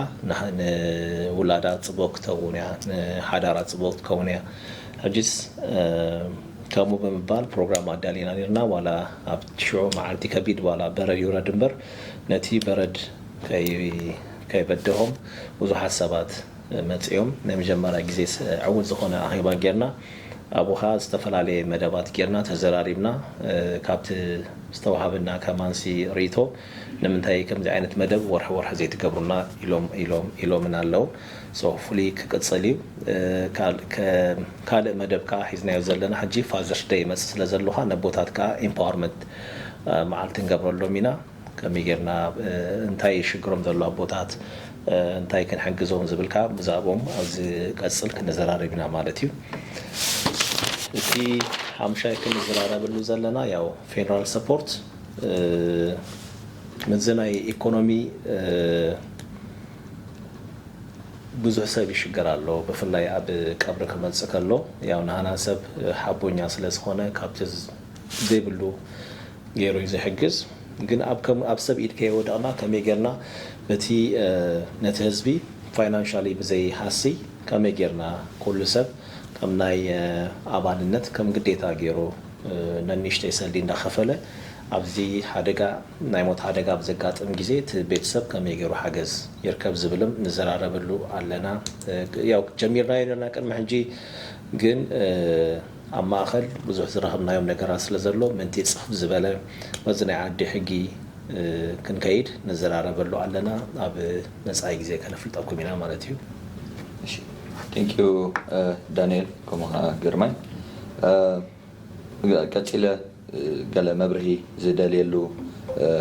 ንውላዳ ጽቡቅ ክትከውን እያ ንሓዳራ ጽቡቅ ክትከውን እያ ሕጂስ ከምኡ ብምባል ፕሮግራም ኣዳሊና ኔርና ዋላ ኣብ ሽዑ መዓልቲ ከቢድ ዋላ በረድ ይውረድ እምበር ነቲ በረድ ከይበደሆም ብዙሓት ሰባት መጺኦም ናይ መጀመርያ ግዜ ዕውት ዝኾነ ኣኼባ ጌርና ኣብኡ ከኣ ዝተፈላለየ መደባት ጌርና ተዘራሪብና ካብቲ ዝተዋሃበና ከማንሲ ሪኢቶ ንምንታይ ከምዚ ዓይነት መደብ ወርሒ ወርሒ ዘይትገብሩልና ኢሎም ኢሎም ኢሎምና ኣለው so hopefully ክቅጽል እዩ ካልእ መደብ ከኣ ሒዝናዮ ዘለና ሕጂ father's day ይመጽእ ስለ ዘሎኻ ነቦታት ከኣ empowerment መዓልቲ ንገብረሎም ኢና። ከመይ ጌርና እንታይ እዩ ሽግሮም ዘሎ ኣቦታት እንታይ ክንሕግዞም ዝብል ከኣ ብዛእቦም ኣብ ዝቀጽል ክንዘራረብ ኢና ማለት እዩ። እቲ ሓምሻይ ክንዝራረበሉ ዘለና ያው ፌደራል ሰፖርት ምስዚ ናይ ኢኮኖሚ ብዙሕ ሰብ ይሽገር ኣሎ ብፍላይ ኣብ ቀብሪ ክመጽእ ከሎ ያው ንሃና ሰብ ሓቦኛ ስለ ዝኮነ ካብቲ ዘይብሉ ገይሩ እዩ ዝሕግዝ ግን ኣብ ከም ኣብ ሰብ ኢድ ከየወደቅና ከመይ ገርና በቲ ነቲ ህዝቢ ፋይናንሻሊ ብዘይ ሃስይ ከመይ ገርና ኩሉ ሰብ ከም ናይ ኣባልነት ከም ግዴታ ገይሩ ነንሽተይ ሰልዲ እንዳከፈለ ኣብዚ ሓደጋ ናይ ሞት ሓደጋ ኣብ ዘጋጥም ግዜ እቲ ቤተሰብ ከመይ ገይሩ ሓገዝ ይርከብ ዝብልም ንዘራረበሉ ኣለና ያው ጀሚርናዮ ነርና ቅድሚ ሕጂ ግን ኣብ ማእኸል ብዙሕ ዝረኸብናዮም ነገራት ስለ ዘሎ ምእንቲ ጽፍፍ ዝበለ በዚ ናይ ዓዲ ሕጊ ክንከይድ ንዘራረበሉ ኣለና ኣብ መጻኢ ግዜ ከነፍልጠኩም ኢና ማለት እዩ። እሺ Thank you ዳንኤል ከምኡ ከኣ ግርማይ ቀጺለ። ገለ መብርሂ ዝደልየሉ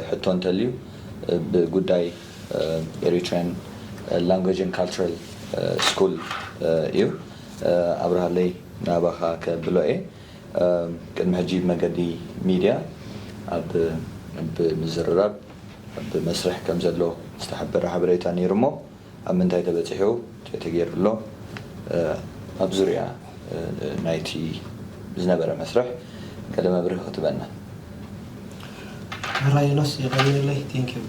ሕቶ እንተልዩ ብጉዳይ ኤሪትሪያን ላንጉጅን ካልቸራል ስኩል እዩ። ኣብርሃለይ ናባኻ ከብሎ እየ። ቅድሚ ሕጂ ብመገዲ ሚድያ ኣብ ምዝርራብ ኣብ መስርሕ ከምዘሎ ዝተሓበረ ሓበሬታ ነይሩ'ሞ፣ ኣብ ምንታይ ተበጺሑ እንታይ ተገይሩ ኣሎ ኣብ ዙርያ ናይቲ ዝነበረ መስርሕ ገለ መብርሂ ክትበና። ሕራይ ዮናስ የቐንየለይ Thank you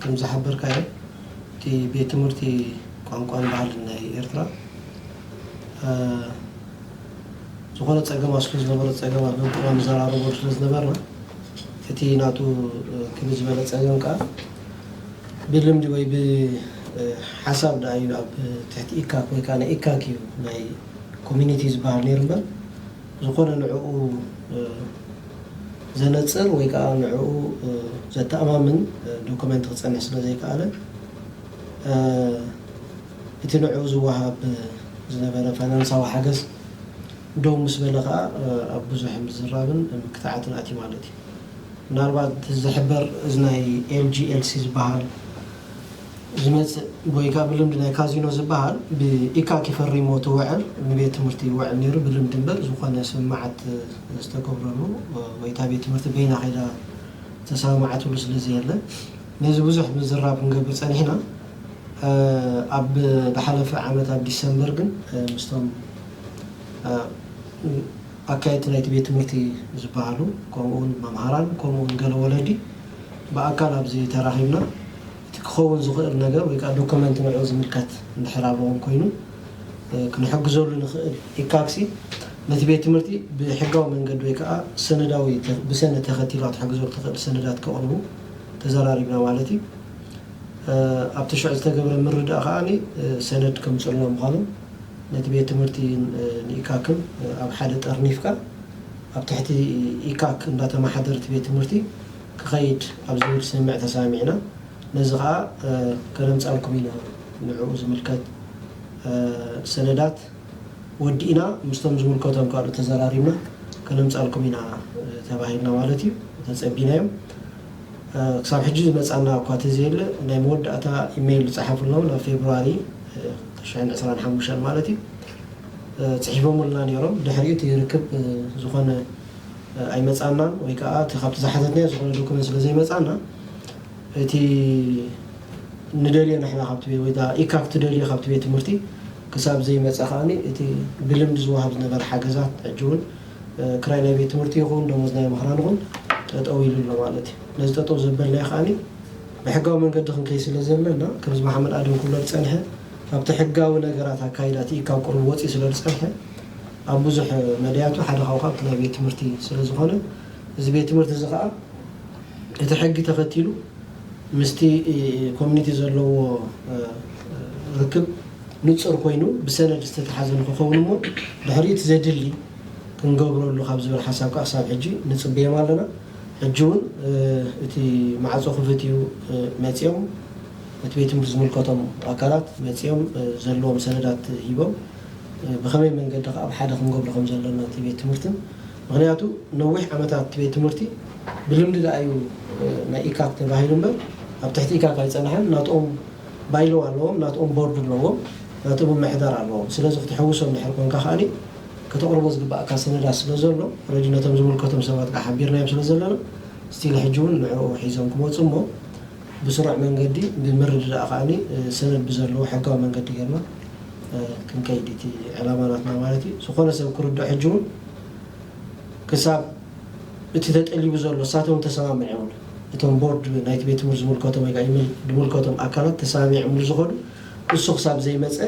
ከም ዝሓበርካዮ እቲ ቤት ትምህርቲ ቋንቋን ባህልን ናይ ኤርትራ ዝኾነ ጸገም ኣብ ስኩል ዝነበሮ ጸገም ኣብ በብእዋኑ ንዘራረበሉ ስለ ዝነበርና እቲ ናቱ ክብ ዝበለ ጸገም ከኣ ብልምዲ ወይ ብሓሳብ ድኣ እዩ ኣብ ትሕቲ ኢካክ ወይ ከኣ ናይ ኢካክ እዩ ናይ ኮሚኒቲ ዝበሃል ነይሩ እምበር ዝኾነ ንዕኡ ዘነጽር ወይ ከኣ ንዕኡ ዘተኣማምን ዶኮመንት ክጸንሕ ስለ ዘይከኣለ እቲ ንዕኡ ዝወሃብ ዝነበረ ፋይናንሳዊ ሓገዝ ደው ምስ በለ ከኣ ኣብ ብዙሕ ምዝራብን ምክታዓትን ኣትዩ ማለት እዩ። ምናልባት ዝሕበር እዚ ናይ LGLC ዝበሃል ዝመጽእ ጎይጋ ብልምዲ ናይ ካዚኖ ዝበሃል ብኢካኪ ፈሪሞ እቲ ወዕል ንቤት ትምህርቲ ይወዕል ነይሩ ብልምዲ እምበር ዝኾነ ስምምዓት ዝተገብረሉ ወይ እታ ቤት ትምህርቲ በይና ከይዳ ዝተሰማምዓትሉ ስለዘየለ ነዚ ብዙሕ ምዝራብ ክንገብር ጸኒሕና ኣብ ዝሓለፈ ዓመት ኣብ ዲሰምበር ግን ምስቶም ኣካየድቲ ናይቲ ቤት ትምህርቲ ዝበሃሉ ከምኡውን መምሃራን ከምኡውን ገለ ወለዲ ብኣካል ኣብዚ ተራኺብና እቲ ክኸውን ዝኽእል ነገር ወይ ከኣ ዶኮመንት ንዕኡ ዝምልከት እንድሕር ኣለዎም ኮይኑ ክንሕግዘሉ ንኽእል ኢካክሲ ነቲ ቤት ትምህርቲ ብሕጋዊ መንገዲ ወይ ከኣ ሰነዳዊ ብሰነድ ተኸቲልካ ክትሕግዘሉ ትኽእል ሰነዳት ከቕርቡ ተዘራሪብና ማለት እዩ ኣብቲ ሽዑ ዝተገብረ ምርድዳእ ከኣ ሰነድ ከምጽኡልና ምዃኑ ነቲ ቤት ትምህርቲ ንኢካክን ኣብ ሓደ ጠርኒፍካ ኣብ ትሕቲ ኢካክ እንዳተማሓደር እቲ ቤት ትምህርቲ ክከይድ ኣብ ዝብል ስምምዕ ተሳሚዕና ነዚ ከኣ ከነምጻልኩም ኢና ንዕኡ ዝምልከት ሰነዳት ወዲእና ምስቶም ዝምልከቶም ካልኦት ተዘራሪብና ከነምጻልኩም ኢና ተባሂልና ማለት እዩ ተጸቢናዮም ክሳብ ሕጂ ዝመጻና እኳ ተዘየለ ናይ መወዳእታ ኢመይል ዝጸሓፉልና ውን ኣብ ፌብርዋሪ ቅርሻይን ዕስራን ሓሙሻን ማለት እዩ ጽሒፎሙልና ኔሮም ድሕሪኡ እቲ ርክብ ዝኾነ ኣይመጻናን ወይ ከኣ እቲ ካብቲ ዝሓተትናዮ ዝኾነ ዶኩመንት ስለ ዘይመጻና እቲ ንደልዮ ንሕና ካብቲ ቤት ወይ ከኣ ኢካ ክትደልዮ ካብቲ ቤት ትምህርቲ ክሳብ ዘይመጸ ከኣ እቲ ብልምዲ ዝወሃብ ዝነበረ ሓገዛት ሕጂ እውን ክራይ ናይ ቤት ትምህርቲ ይኹን ደሞዝ ናይ መምህራን ይኹን ጠጠው ኢሉ ኣሎ ማለት እዩ ነዚ ጠጠው ዘበልናዮ ከኣ ብሕጋዊ መንገዲ ክንከይድ ስለ ዘለና ከምዚ መሓመድ ኣደም ክብሎ ዝጸንሐ ካብቲ ሕጋዊ ነገራት ኣካይዳ እቲ ኢድ ካብ ቁሩብ ወጺኡ ስለ ዝጸንሐ ኣብ ብዙሕ መዳያቱ ሓደ ካብኡ ከኣ ኣብቲ ናይ ቤት ትምህርቲ ስለ ዝኾነ እዚ ቤት ትምህርቲ እዚ ከኣ እቲ ሕጊ ተኸቲሉ ምስቲ ኮሚኒቲ ዘለዎ ርክብ ንጹር ኮይኑ ብሰነድ ዝተተሓዘ ንኽኸውን እሞ ድሕሪኡ እቲ ዘድሊ ክንገብረሉ ካብ ዝብል ሓሳብ ከኣ ክሳብ ሕጂ ንጽበዮም ኣለና። ሕጂ ውን እቲ ማዕጾ ክፍት እዩ መጺኦም እቲ ቤት ትምህርቲ ዝምልከቶም ኣካላት መጺኦም ዘለዎም ሰነዳት ሂቦም ብከመይ መንገዲ ከኣ ብ ሓደ ክንገብሮ ከም ዘለና እቲ ቤት ትምህርትን ምክንያቱ ነዊሕ ዓመታት እቲ ቤት ትምህርቲ ብልምዲ ደኣ እዩ ናይ ኢካክ ተባሂሉ እምበር ኣብ ትሕቲ ኢካክ ኣይጸነሐን ናትኦም ባይሎው ኣለዎም ናትኦም ቦርድ ኣለዎም ናትኦም ምምሕዳር ኣለዎም ስለዚ ክትሕውሶም ድሕሪ ኮንካ ከኣ ከተቕርቦ ዝግበኣካ ሰነዳት ስለ ዘሎ ረዲ ነቶም ዝምልከቶም ሰባት ከኣ ሓቢርናዮም ስለ ዘለና ስቲል ሕጂ ውን ንዕኡ ሒዞም ክመጹ እሞ ብስሩዕ መንገዲ ብምርድዳእ ከኣ ሰነድ ብዘለዎ ሕጋዊ መንገዲ ጌርና ክንከይድ እዩ እቲ ዕላማ ናትና ማለት እዩ ዝኾነ ሰብ ክርድኦ ሕጂ ውን ክሳብ እቲ ተጠሊቡ ዘሎ እሳቶም ውን ተሰማሚዖምሉ እቶም ቦርድ ናይቲ ቤት ትምህርቲ ዝምልከቶም ወይ ከኣ ዝምልከቶም ኣካላት ተሰማሚዖምሉ ዝኸዱ ንሱ ክሳብ ዘይመጸ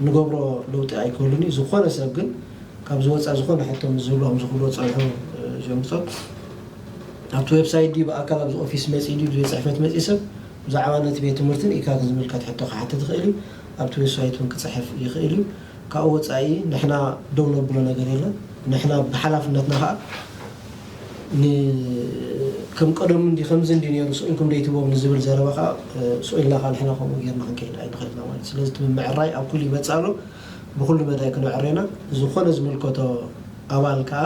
እንገብሮ ለውጢ ኣይክህሉን እዩ። ዝኾነ ሰብ ግን ካብዚ ወጻኢ ዝኾነ ሕቶ ምስ ዝህልዎም ዝኽእልዎ ጸንሑ ሸምጾ። ኣብቲ ዌብሳይት ድዩ ብኣካል ኣብዚ ኦፊስ መጺኡ ድዩ ቤት ጽሕፈት መጺኡ ሰብ ብዛዕባ ነቲ ቤት ትምህርቲ ንኢካክ ዝምልከት ሕቶ ክሓትት ይኽእል እዩ። ኣብቲ ዌስይት እውን ክጽሕፍ ይኽእል እዩ። ካብኡ ወጻኢ ንሕና ደው ነብሎ ነገር የለን። ንሕና ብሓላፍነትና ከኣ። ን ከም ቀደሙ እንዲ ከምዚ እንዲ ኔሩ ስኢንኩም ዶ ኣይትቦም ንዝብል ዘረባ ከኣ ሱቅ ኢልናካ ንሕና ከምኡ ጌርና ክንከይድ ኣይንክእልና ማለት ስለዚ እቲ ምምዕራይ ኣብ ኩሉ ይበጽእ ኣሎ ብኩሉ መዳይ ክነዕርዮ ኢና ዝኮነ ዝምልከቶ ኣባል ከኣ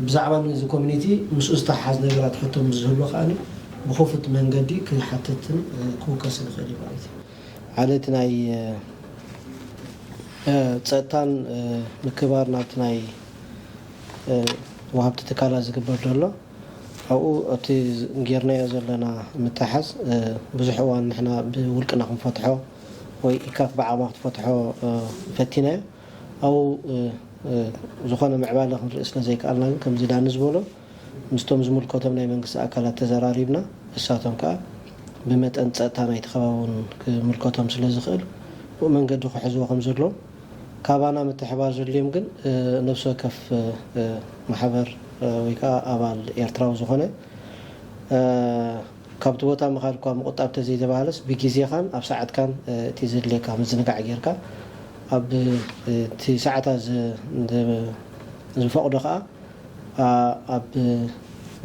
ብዛዕባ ንዚ ኮሚኒቲ ምስኡ ዝተሓሓዝ ነገራት ሕቶ ምስ ዝህሉ ከኣ ብክፉት መንገዲ ክሓትትን ክውከስን ይክእል እዩ ማለት እዩ ሓደ እቲ ናይ ጸጥታን ምክብባር ናብቲ ናይ። ወሃብቲ ትካላት ዝግበር ዘሎ ኣብኡ እቲ ጌርናዮ ዘለና ምትሕሓዝ ብዙሕ እዋን ንሕና ብውልቅና ክንፈትሖ ወይ ኢካፍ ብዓቕማ ክትፈትሖ ፈቲናዮ ኣብኡ ዝኾነ ምዕባለ ክንርኢ ስለዘይከኣልና ግን ከምዚ ዳኒ ዝበሎ ምስቶም ዝምልከቶም ናይ መንግስቲ ኣካላት ተዘራሪብና ንሳቶም ከኣ ብመጠን ጸጥታ ናይቲ ከባቢ እውን ክምልከቶም ስለዝኽእል ብኡ መንገዲ ክሕዝዎ ከምዘለዎም ካባና ምትሕብባር ዘድልዮም ግን ነብሲ ወከፍ ማሕበር ወይ ከኣ ኣባል ኤርትራዊ ዝኾነ ካብቲ ቦታ ምኻድኳ ምቑጣብ ተዘይተባህለስ ብጊዜኻን ኣብ ሰዓትካን እቲ ዘድልየካ ምዝንጋዕ ጌርካ ኣብቲ ሰዓታ ዝፈቕዶ ከኣ ኣብ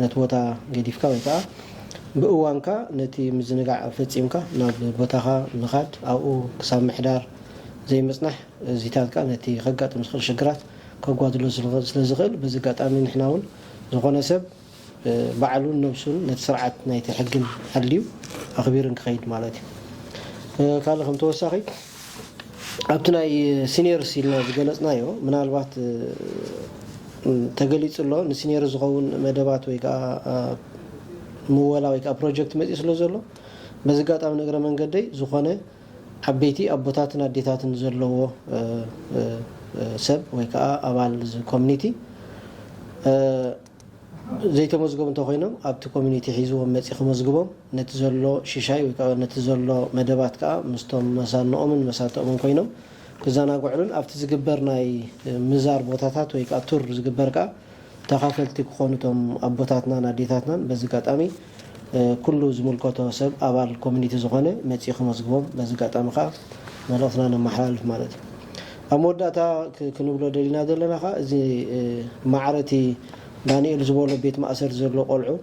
ነቲ ቦታ ገዲፍካ ወይ ከኣ ብእዋንካ ነቲ ምዝንጋዕ ፈጺምካ ናብ ቦታኻ ምኻድ ኣብኡ ክሳብ ምሕዳር ዘይምጽናሕ እዚታት ከኣ ነቲ ከጋጥም ዝኽእል ሽግራት ከጓድሎ ስለ ዝኽእል በዚ ኣጋጣሚ ንሕና ውን ዝኾነ ሰብ ባዕሉን ነብሱን ነቲ ስርዓት ናይቲ ሕግን ሓልዩ ኣኽቢርን ክኸይድ ማለት እዩ። ካልእ ከም ተወሳኺ ኣብቲ ናይ ሲኒየርስ ኢልና ዝገለጽናዮ ምናልባት ተገሊጹ ኣሎ ንሲኒየርስ ዝኸውን መደባት ወይ ከኣ ምወላ ወይ ከኣ ፕሮጀክት መጺኡ ስለ ዘሎ በዚ ኣጋጣሚ ንእግረ መንገደይ ዝኾነ ዓበይቲ ኣቦታትን ኣዴታትን ዘለዎ ሰብ ወይ ከኣ ኣባል እዚ ኮሚኒቲ ዘይተመዝገቡ እንተኾይኖም ኣብቲ ኮሚኒቲ ሒዝዎም መጺ ክመዝግቦም ነቲ ዘሎ ሽሻይ ወይ ከኣ ነቲ ዘሎ መደባት ከኣ ምስቶም መሳኖኦምን መሳተኦምን ኮይኖም ክዘናግዕሉን ኣብቲ ዝግበር ናይ ምዛር ቦታታት ወይ ከኣ ቱር ዝግበር ከኣ ተኻፈልቲ ክኾኑ እቶም ኣቦታትናን ኣዴታትናን በዚ ኣጋጣሚ ኩሉ ዝምልከቶ ሰብ ኣባል ኮሚኒቲ ዝኾነ መፂኡ ከመዝግቦም በዚ ኣጋጣሚ ከዓ መልእኽትና ነመሓላልፍ ማለት እዩ። ኣብ መወዳእታ ክንብሎ ደሊና ዘለና ከዓ እዚ ማዕረ እቲ ዳኒኤል ዝበሎ ቤት ማእሰርቲ ዘሎ ቆልዑ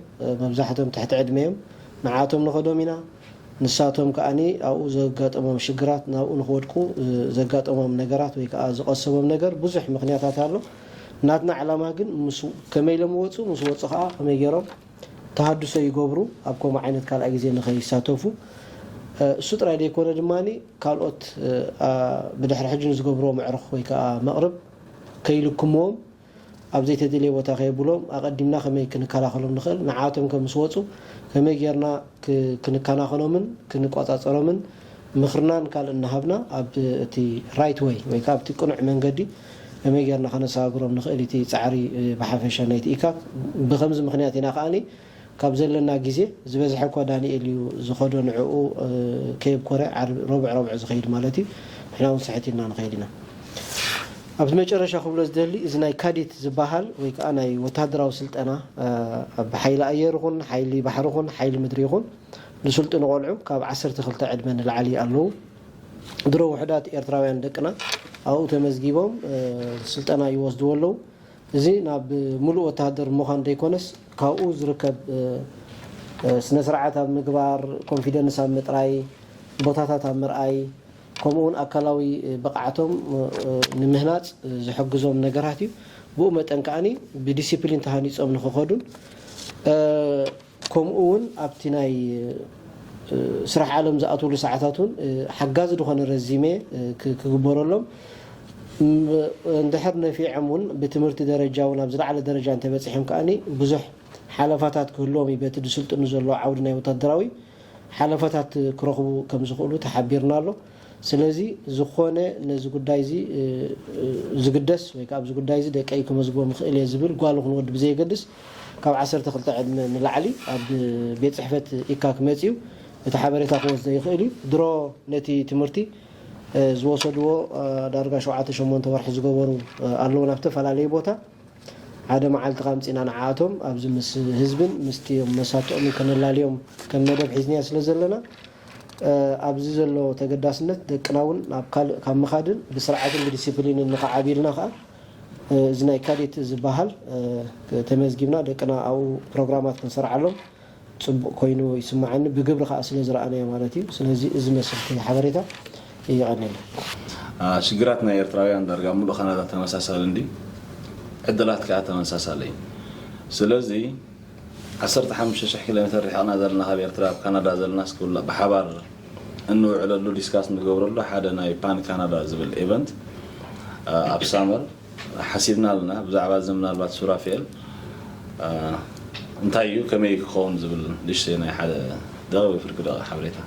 መብዛሕቶም ትሕቲ ዕድመ እዮም ንዓኣቶም ንኸዶም ኢና ንሳቶም ከዓ ኣብኡ ዘጋጠሞም ሽግራት ናብኡ ንኽወድቁ ዘጋጠሞም ነገራት ወይ ከዓ ዝቐሰቦም ነገር ብዙሕ ምኽንያታት ኣሎ ናትና ዕላማ ግን ምስ ከመይ ኢሎም ይወፁ ምስ ወፁ ከዓ ከመይ ገይሮም ተሃድሶ ይገብሩ ኣብ ከምኡ ዓይነት ካልኣይ ግዜ ንኸይሳተፉ። እሱ ጥራይ ዘይኮነ ድማ ካልኦት ብድሕሪ ሕጂ ንዝገብርዎ መዕርኽ ወይ ከኣ መቕርብ ከይልክምዎም ኣብ ዘይተደልየ ቦታ ከየብሎም ኣቐዲምና ከመይ ክንከላኸሎም ንኽእል ንዓኣቶም ከ ምስ ወጹ ከመይ ጌርና ክንከናኸኖምን ክንቆጻጸሮምን ምኽርናን ካልእን እናሃብና ኣብ እቲ ራይት ዌይ ወይ ከኣ ኣብቲ ቅኑዕ መንገዲ ከመይ ጌርና ከነሰጋግሮም ንኽእል ኢቲ ጻዕሪ ብሓፈሻ ናይቲ ኢካክ ብኸምዚ ምኽንያት ኢና ከኣ ካብ ዘለና ጊዜ ዝበዝሐ እኳ ዳኒኤል እዩ ዝኸዶ ንዕኡ ከየብኮረ ሮብዕ ሮብዕ ዝኸይድ ማለት እዩ ንሕና ውን ስሕት ኢልና ንኸይድ ኢና ኣብ መጨረሻ ክብሎ ዝደሊ እዚ ናይ ካዲት ዝባሃል ወይ ከኣ ናይ ወተሃደራዊ ስልጠና ኣብ ሓይሊ ኣየር ይኹን ሓይሊ ባሕሪ ይኹን ሓይሊ ምድሪ ይኹን ዝስልጥኑ ቆልዑ ካብ ዓሰርተ ክልተ ዕድመ ንላዕሊ ኣለዉ። ድሮ ውሑዳት ኤርትራውያን ደቅና ኣብኡ ተመዝጊቦም ስልጠና ይወስድዎ ኣለዉ። እዚ ናብ ምሉእ ወተሃደር ምዃን ዘይኮነስ ካብኡ ዝርከብ ስነስርዓት ኣብ ምግባር፣ ኮንፊደንስ ኣብ ምጥራይ፣ ቦታታት ኣብ ምርኣይ ከምኡ እውን ኣካላዊ ብቕዓቶም ንምህናጽ ዝሕግዞም ነገራት እዩ። ብኡ መጠን ከኣ ብዲሲፕሊን ተሃኒጾም ንኽኸዱን ከምኡ እውን ኣብቲ ናይ ስራሕ ዓለም ዝኣትውሉ ሰዓታት እውን ሓጋዚ ዝኾነ ረዚሜ ክግበረሎም እንድሕር ነፊዖም እውን ብትምህርቲ ደረጃ እውን ኣብ ዝለዓለ ደረጃ እንተበፂሖም ከኣ ብዙሕ ሓለፋታት ክህልዎም እዩ በቲ ዝስልጥኑ ዘለዉ ዓውዲ ናይ ወታደራዊ ሓለፋታት ክረኽቡ ከም ዝኽእሉ ተሓቢርና ኣሎ ስለዚ ዝኾነ ነዚ ጉዳይ እዚ ዝግደስ ወይ ከዓ ኣብዚ ጉዳይ እዚ ደቀይ ክመዝግቦም ይኽእል እየ ዝብል ጓል ይኹን ወዲ ብዘየገድስ ካብ ዓሰርተ ክልተ ዕድመ ንላዕሊ ኣብ ቤት ጽሕፈት ኢካክ መጺኡ እቲ ሓበሬታ ክወስዶ ይኽእል እዩ። ድሮ ነቲ ትምህርቲ ዝወሰድዎ ዳርጋ ሸውዓተ ሸሞንተ ወርሒ ዝገበሩ ኣለዉ ናብ እተፈላለየ ቦታ ሓደ መዓልቲ ከኣ ኣምጺእና ንዓኣቶም ኣብዚ ምስ ህዝብን ምስቲ መሳትኦምን ከነላልዮም ከም መደብ ሒዝናዮ ስለ ዘለና ኣብዚ ዘሎ ተገዳስነት ደቅና እውን ናብ ካልእ ካብ ምኻድን ብስርዓትን ብዲሲፕሊንን ንኽዓብዩልና ከኣ እዚ ናይ ካዴት ዝበሃል ተመዝጊብና ደቅና ኣብኡ ፕሮግራማት ክንሰርዓሎም ፅቡቕ ኮይኑ ይስመዓኒ ብግብሪ ከዓ ስለ ዝረኣናዮ ማለት እዩ ስለዚ እዚ መስልቲ ሓበሬታ የቐኔልና። ሽግራት ናይ ኤርትራውያን ዳርጋ ምሉእ ካናዳ ተመሳሳሊ እንድዩ ዕድላት ከኣ ተመሳሳሊ እዩ ስለዚ ዓሰርተ ሓሙሽተ ሽሕ ኪሎሜተር ሪሕቅና ዘለና ካብ ኤርትራ ኣብ ካናዳ ዘለናስ ክብላ ብሓባር እንውዕለሉ ዲስካስ እንገብረሉ ሓደ ናይ ፓን ካናዳ ዝብል ኤቨንት ኣብ ሳመር ሓሲብና ኣለና ብዛዕባ እዚ ምናልባት ሱራፌል እንታይ እዩ ከመይ ክኸውን ዝብል ንእሽተይ ናይ ሓደ ደቂ ወይ ፍርቂ ደቂ ሓበሬታ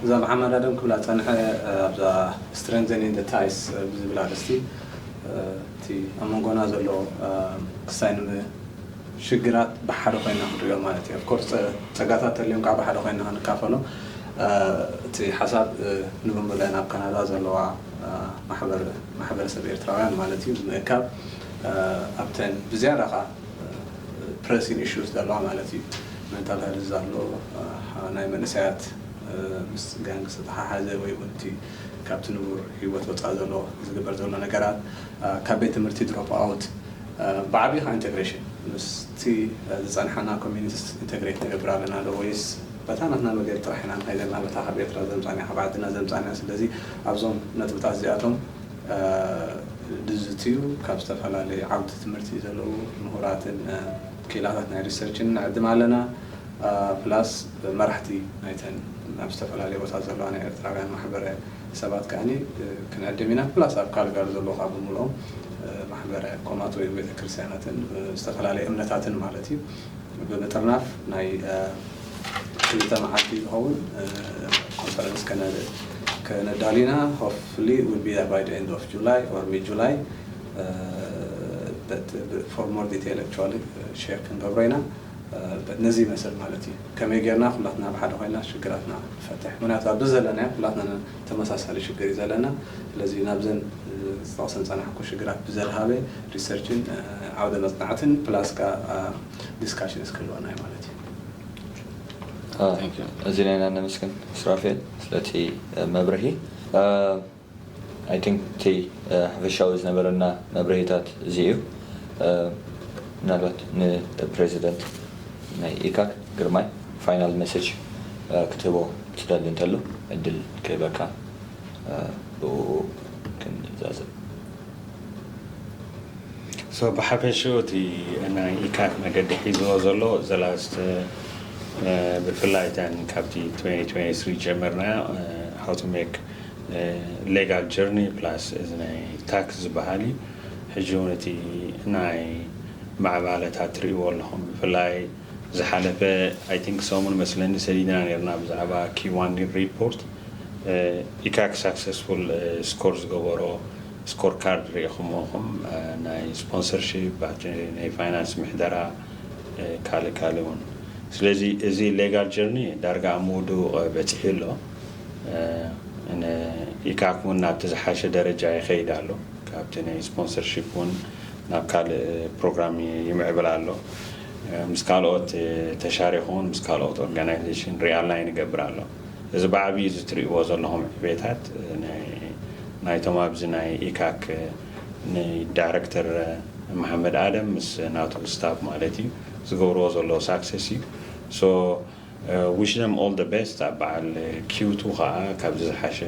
እዛ ብሓማዳ ደም ክብላ ዝጸንሐ ኣብዛ ስትረንዘኒንግ ዘ ታይስ ብዝብል ኣርእስቲ እቲ ኣብ መንጎና ዘሎ ክሳይ ንምሽግራት ብሓደ ኮይና ክንሪኦ ማለት እዩ። ኣፍኮርስ ፀጋታት ተልዮም ከዓ ብሓደ ኮይና ክንካፈሎም እቲ ሓሳብ ንብምለን ኣብ ካናዳ ዘለዋ ማሕበረሰብ ኤርትራውያን ማለት እዩ ብምእካብ ኣብተን ብዝያዳ ከዓ ፕረሲን ኢሹስ ዘለዋ ማለት እዩ መንታል ሀልዝ ኣሎ ናይ መንእሰያት ምስ ጋንግ ዝተሓሓዘ ወይ እውን እቲ ካብቲ ንቡር ህይወት ወጻኢ ዘሎ ዝግበር ዘሎ ነገራት፣ ካብ ቤት ትምህርቲ ድሮፕ ኣውት፣ ብዓቢኡ ከኣ ኢንተግሬሽን፣ ምስቲ ዝጸንሓና ኮሚኒቲስ ኢንተግሬት ንገብር ኣለና ዶ ወይስ በታ ናትና መገዲ ጥራሕ ኢና ንኸይድ ዘለና በታ ካብ ኤርትራ ዘምጻእናያ ካብ ዓድና ዘምጻእናያ ስለዚ ኣብዞም ነጥብታት እዚኣቶም ድዝትዩ ካብ ዝተፈላለዩ ዓውዲ ትምህርቲ ዘለዉ ምሁራትን ክኢላታት ናይ ሪሰርችን ንዕድም ኣለና ፕላስ መራሕቲ ናይተን ኣብ ዝተፈላለየ ቦታት ዘለዋ ናይ ኤርትራውያን ማሕበረ ሰባት ከኣኒ ክንዕድም ኢና። ፕላስ ኣብ ካልጋሪ ዘለዉ ከኣ ብምልኦም ማሕበረ ኮማት ወይ ቤተ ክርስትያናትን ዝተፈላለየ እምነታትን ማለት እዩ ብምጥርናፍ ናይ ክልተ መዓልቲ ዝኸውን ኮንፈረንስ ከነዳሉ ኢና። Hopefully it will be there by the end of July or mid July but for more detail actually share ክንገብሮ ኢና። ነዚ ይመስል ማለት እዩ ከመይ ጌርና ኩላትና ኣብ ሓደ ኮይና ሽግራትና ንፈትሕ ምክንያቱ ኣብዚ ዘለናዮ ኩላትና ተመሳሳሊ ሽግር እዩ ዘለና ስለዚ ናብዘን ዝጠቅሰን ዝጸናሕኩ ሽግራት ብዘድሃበ ሪሰርችን ዓውደ መጽናዕትን ፕላስ ከኣ ዲስካሽንስ ክህልወና እዩ ማለት እዩ። ኣዚና ኢና ነመስግን ሱራፌል ስለቲ መብርሂ። I think እቲ ሓፈሻዊ ዝነበረና መብርሂታት እዚ እዩ። ምናልባት ንፕረዚደንት ናይ ኢካክ ግርማይ ፋይናል መሰጅ ክትህቦ ትደሊ እንተሉ ዕድል ክህበካ ብእኡ ክንዛዘም። So ብሓፈሽኡ እቲ ናይ ኢካክ መገዲ ሒዝዎ ዘሎ the last ብፍላይ እተን ካብቲ 2023 ጀምርና how to make ሌጋል ጀርኒ ፕላስ እዚ ናይ ታክስ ዝበሃል እዩ ሕጂ ውን እቲ ናይ ምዕባለ ታት ትርእይዎ ኣለኹም ብፍላይ ዝሓለፈ ኣይ ቲንክ ሰሙን መስለኒ ሰዲድና ነርና ብዛዕባ ኪዋን ሪፖርት ኢካክ ሳክሰስፉል ስኮር ዝገበሮ ስኮር ካርድ ሪኢኹምዎ ኹም ናይ ስፖንሰርሺፕ ናይ ፋይናንስ ምሕደራ ካልእ ካልእ ውን ስለዚ እዚ ሌጋል ጀርኒ ዳርጋ ኣብ ምውድኡ በጺሑ ኣሎ ን ኢካክ ውን ናብቲ ዝሓሸ ደረጃ ይኸይድ ኣሎ ካብቲ ናይ ስፖንሰርሺፕ ውን ናብ ካልእ ፕሮግራም ይምዕብል ኣሎ ምስ ካልኦት ተሻሪኹ ውን ምስ ካልኦት ኦርጋናይዜሽን ሪኣላይን ይገብር ኣሎ እዚ ብዓብዩ እዚ ትሪእዎ ዘለኹም ዕቤታት ናይቶም ኣብዚ ናይ ኢካክ ን ዳይረክተር መሓመድ ኣደም ምስ ናቱ ስታፍ ማለት እዩ ዝገብርዎ ዘለዉ ሳክሰስ እዩ ሶ ዊሽ ዘም ኦል ዘ ቤስት ኣብ በዓል ኪውቱ ከኣ ካብዚ ዝሓሸ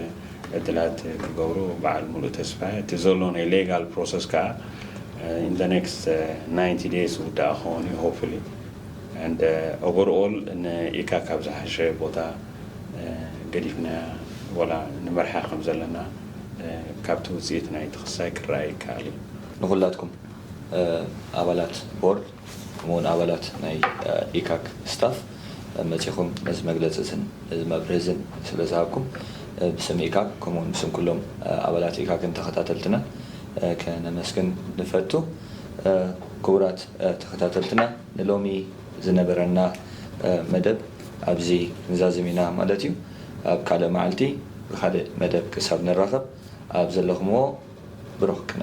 ዕድላት ክገብሩ በዓል ሙሉእ ተስፋ እየ እቲ ዘሎ ናይ ሌጋል ፕሮሰስ ከኣ ኢን ዘ ኔክስት ናይንቲ ደይስ ዝውዳእ ክኸውን እዩ ሆፕፉሊ ኣንድ ኦቨር ኦል ን ኢካ ካብ ዝሓሸ ቦታ ገዲፍናያ ወላ ንመርሓ ከም ዘለና ካብቲ ውጽኢት ናይቲ ክሳይ ክረኣ ይከኣል እዩ። ንኹላትኩም ኣባላት ቦርድ ከምኡ ውን ኣባላት ናይ ኢካክ ስታፍ መጺኹም ነዚ መግለጺ እዝን ነዚ መብርሂ እዝን ስለ ዝሃብኩም ብስም ኢካክ ከምኡ ውን ብስም ኩሎም ኣባላት ኢካክን ተኸታተልትናን ከነመስግን ንፈቱ። ክቡራት ተኸታተልትና ንሎሚ ዝነበረና መደብ ኣብዚ ክንዛዝም ኢና ማለት እዩ። ኣብ ካልእ መዓልቲ ብካልእ መደብ ክሳብ ንራኸብ ኣብ ዘለኹምዎ ብሩኽ ቅነ።